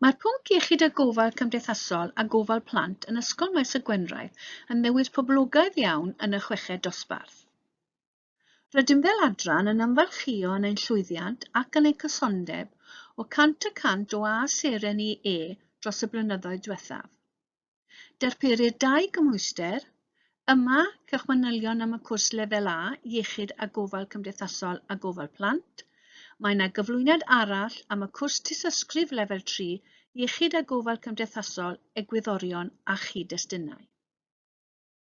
Mae'r pwnc iechyd a gofal cymdeithasol a gofal plant yn Ysgol Maes y Gwendraeth yn newid poblogaidd iawn yn y chweched dosbarth. Rydym fel adran yn ymfalchïo yn ein llwyddiant ac yn ein cysondeb o 100 y cant o A seren i E dros y blynyddoedd diwethaf. Darperir dau gymhwyster, yma cewch manylion am y cwrs Lefel A, Iechyd a Gofal Cymdeithasol a Gofal Plant. Mae yna gyflwyniad arall am y cwrs Tystysgrif Lefel 3, Iechyd a Gofal Cymdeithasol, Egwyddorion a Chyd-destunau.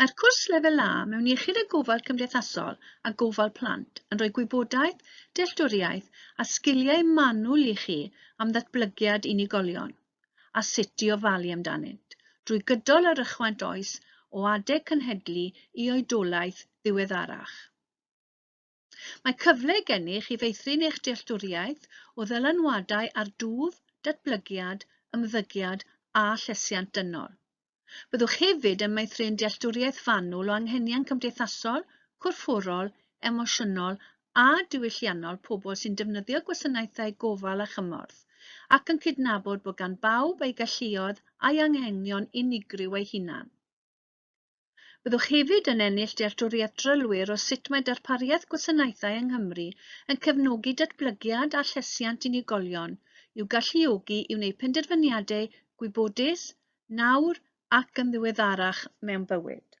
Mae'r cwrs Lefel A mewn Iechyd a Gofal Cymdeithasol a Gofal Plant yn rhoi gwybodaeth, dealltwriaeth a sgiliau manwl i chi am ddatblygiad unigolion a sut i ofalu amdanynt, drwy gydol yr ychwaint oes o adeg cynhedlu i oedolaeth ddiweddarach. Mae cyfle gennych i feithrin eich dealltwriaeth o ddylanwadau ar dwf, datblygiad, ymddygiad a llesiant dynol. Byddwch hefyd yn meithrin dealltwriaeth fanwl o anghenion cymdeithasol, corfforol, emosiynol a diwylliannol pobl sy'n defnyddio gwasanaethau gofal a chymorth, ac yn cydnabod bod gan bawb ei galluoedd a'i anghenion unigryw eu hunan. Byddwch hefyd yn ennill dealltwriaeth drylwyr o sut mae darpariaeth gwasanaethau yng Nghymru yn cefnogi datblygiad a llesiant unigolion i'w galluogi i wneud penderfyniadau gwybodus, nawr ac yn ddiweddarach mewn bywyd.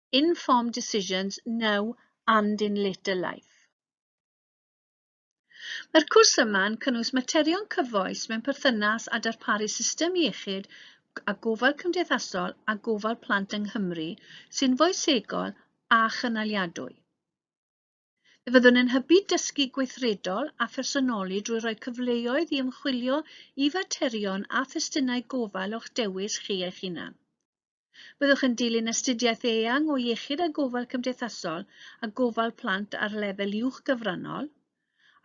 informed decisions now and in later life. Mae'r cwrs yma yn cynnwys materion cyfoes mewn perthynas â darparu system iechyd a gofal cymdeithasol a gofal plant yng Nghymru sy'n foesegol a chynaliadwy. Fe fyddwn yn hybu dysgu gweithredol a phersonoli drwy roi cyfleoedd i ymchwilio i faterion a thestunau gofal o'ch dewis chi eich hunan. Byddwch yn dilyn astudiaeth eang o iechyd a gofal cymdeithasol a gofal plant ar lefel uwch gyfrannol,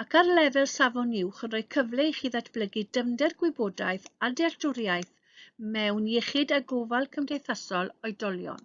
ac ar lefel safon uwch yn rhoi cyfle i chi ddatblygu dyfnder gwybodaeth a dealltwriaeth mewn iechyd a gofal cymdeithasol oedolion.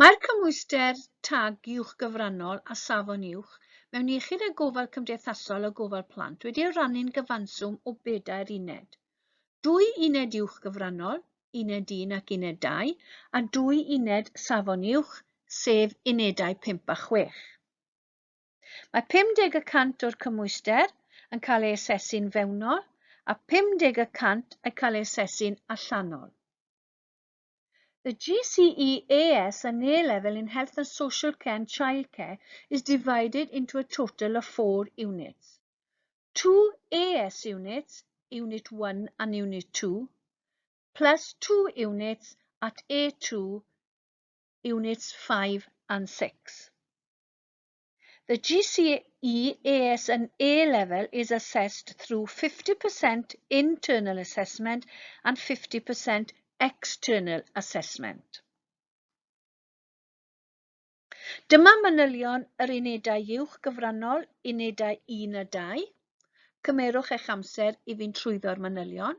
Mae'r cymhwyster tag uwch gyfrannol a safon uwch mewn iechyd a gofal cymdeithasol a gofal plant wedi ei rannu'n gyfanswm o bedair uned. Dwy uned uwch gyfrannol, uned 1 ac uned 2, a dwy uned safon uwch, sef unedau 5 a 6. Mae 50 y cant o'r cymhwyster yn cael ei asesu'n fewnol a 50 y cant yn cael ei asesu'n allanol. The GCEAS and A-level in Health and Social Care and Childcare is divided into a total of four units. Two AS units, Unit 1 and Unit 2, plus two units at A2, Units 5 and 6. The GCEAS and A level is assessed through 50% internal assessment and 50% external assessment. Dyma manylion yr unedau uwch gyfrannol, unedau 1 a 2. Cymerwch eich amser i fynd trwyddo'r manylion.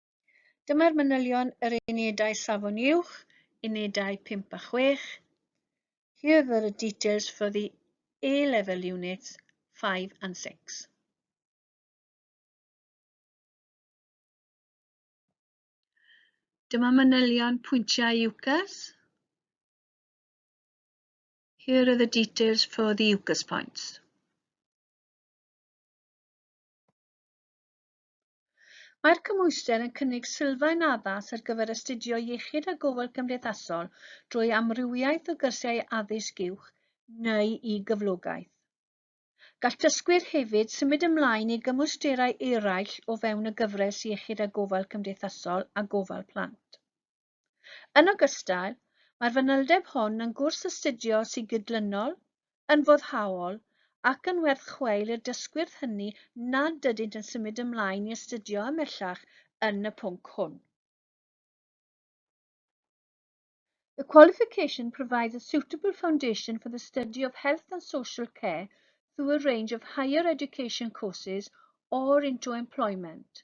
Dyma'r manylion yr unedau safon uwch, unedau 5 a 6. Here are the details for the A-level units 5 and 6. Dyma manylion pwyntiau UCAS. Here are the details for the UCAS points. Mae'r cymhwyster yn cynnig sylfaen addas ar gyfer astudio Iechyd a Gofal Cymdeithasol drwy amrywiaeth o gyrsiau addysg uwch neu i gyflogaeth. Gall dysgwyr hefyd symud ymlaen i gymwysterau eraill o fewn y gyfres Iechyd a Gofal Cymdeithasol a Gofal Plant. Yn ogystal, mae'r fanylder hon yn gwrs astudio sy'n gydlynol, yn foddhaol ac yn werth chweil i'r dysgwyrdd hynny nad ydynt yn symud ymlaen i astudio ymhellach yn y pwnc hwn. The qualification provides a suitable foundation for the study of health and social care through a range of higher education courses or into employment.